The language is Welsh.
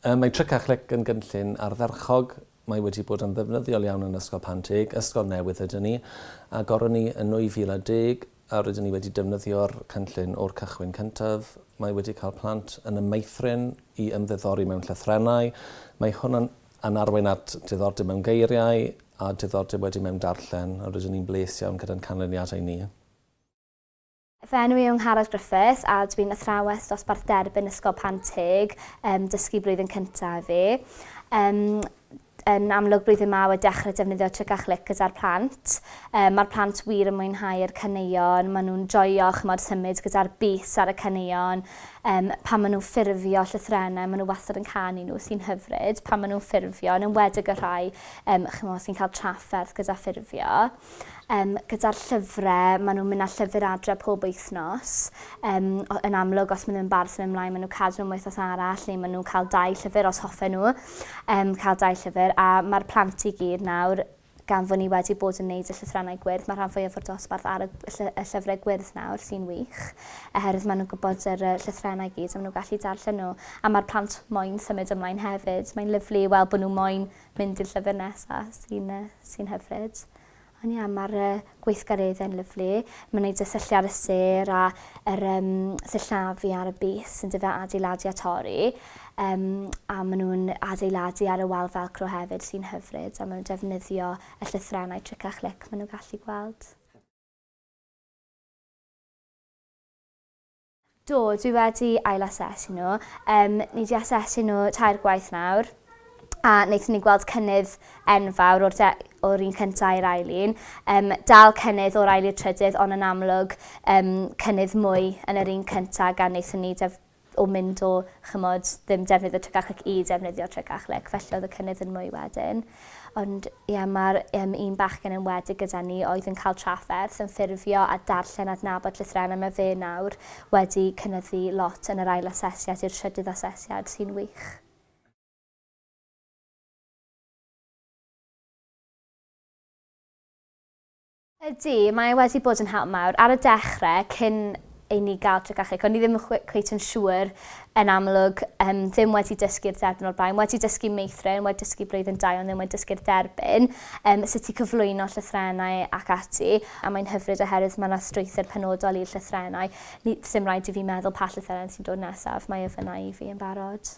Ym mae Tric a Chlic yn gynllun ardderchog. Mae wedi bod yn ddefnyddiol iawn yn Ysgol Panteg, ysgol newydd ydyn ni, a goron ni yn 2010 a rydyn ni wedi defnyddio'r cynllun o'r cychwyn cyntaf. Mae wedi cael plant yn y meithrin i ymddiddori mewn llythrennau. Mae hwn yn Yn arwain at diddordeb mewn geiriau a diddordeb wedyn mewn darllen, a rydyn ni'n bles iawn gyda'n canlyniadau ni. Fy enw i yw Ngharad Griffiths a dwi'n athrawes dosbarth derbyn Ysgol Pant Teg, um, dysgu blwyddyn cyntaf i fi. Um, yn amlwg blwyddyn ma wedi dechrau defnyddio tric a chlic gyda'r plant. Um, Mae'r plant wir yn mwynhau'r caneuon, maen nhw'n joio chymod symud gyda'r bus ar y caneuon, Yym, pan maen nhw'n ffurfio llythrennau, maen nhw wastad yn canu nhw, sy'n hyfryd, pan maen nhw'n ffurfio, yn enwedig y rhai um, chymod, sy'n cael trafferth gyda ffurfio. Um, gyda'r llyfrau, maen nhw'n mynd â llyfr adre pob wythnos. Um, yn amlwg, os maen nhw'n bar sy'n ymlaen, maen nhw'n cadw nhw'n wythnos arall, neu maen nhw'n cael dau llyfr os hoffe nhw um, cael dau llyfr. A mae'r plant i gyd nawr Gan fo' ni wedi bod yn neud y llythrennau gwyrdd, ma' rhan fwyaf o'r dosbarth ar y y llyfre gwyrdd nawr, sy'n wych, oherwydd ma' nhw'n gwybod yr yy llythrennau gyd a ma' nhw'n gallu darllen nhw, a ma'r plant moyn symud ymlaen hefyd. Mae'n lyfli i weld bo' nhw moyn mynd i'r llyfr nesa, sy'n yy sy'n hyfryd. Ond ie, ma'r yy gweithgareddau'n lyfli, mae'n gwneud y syllu ar y sêr a yr um, sillafu ar y bys yn dyfa adeiladu a torri, um, a maen nhw'n adeiladu ar y wal felcro hefyd sy'n hyfryd, a maen nhw'n defnyddio y llythrennau tric a chlic maen nhw'n gallu gweld. Do, dwi wedi ail-asesu nhw. Yym, ni 'di asesu nhw tair gwaith nawr a wnaethon ni gweld cynnydd enfawr o'r, de- o'r un cyntaf i'r ail un. Yym, dal cynnydd o'r ail i'r trydydd ond yn amlwg yym, cynnydd mwy yn yr un cyntaf gan wnaethon ni def- o mynd o chimod, ddim defnyddio Trecachlic i defnyddio Trecachlic, felly oedd y cynnydd yn mwy wedyn. Ond ie, mae'r um, un bachgen yn wedig gyda ni oedd yn cael trafferth yn ffurfio a darllen adnabod llythrennau. Mae fe nawr wedi cynyddu lot yn yr ail asesiad i'r trydydd asesiad, sy'n wych. Ydy, mae e wedi bod yn help mawr. Ar y dechre, cyn i ni gael Trecachig, o'n i ddim yn cweit yn siŵr yn amlwg, um, ddim wedi dysgu'r dderbyn o'r blaen, wedi dysgu meithrin, wedi dysgu blwyddyn dau, ond ddim wedi dysgu'r derbyn, um, sut i cyflwyno llythrenau ac ati, a mae'n hyfryd oherwydd mae yna strwythyr penodol i'r llythrenau. Ni, ddim rhaid i fi meddwl pa llythrenau sy'n dod nesaf, mae e fyna i fi yn barod.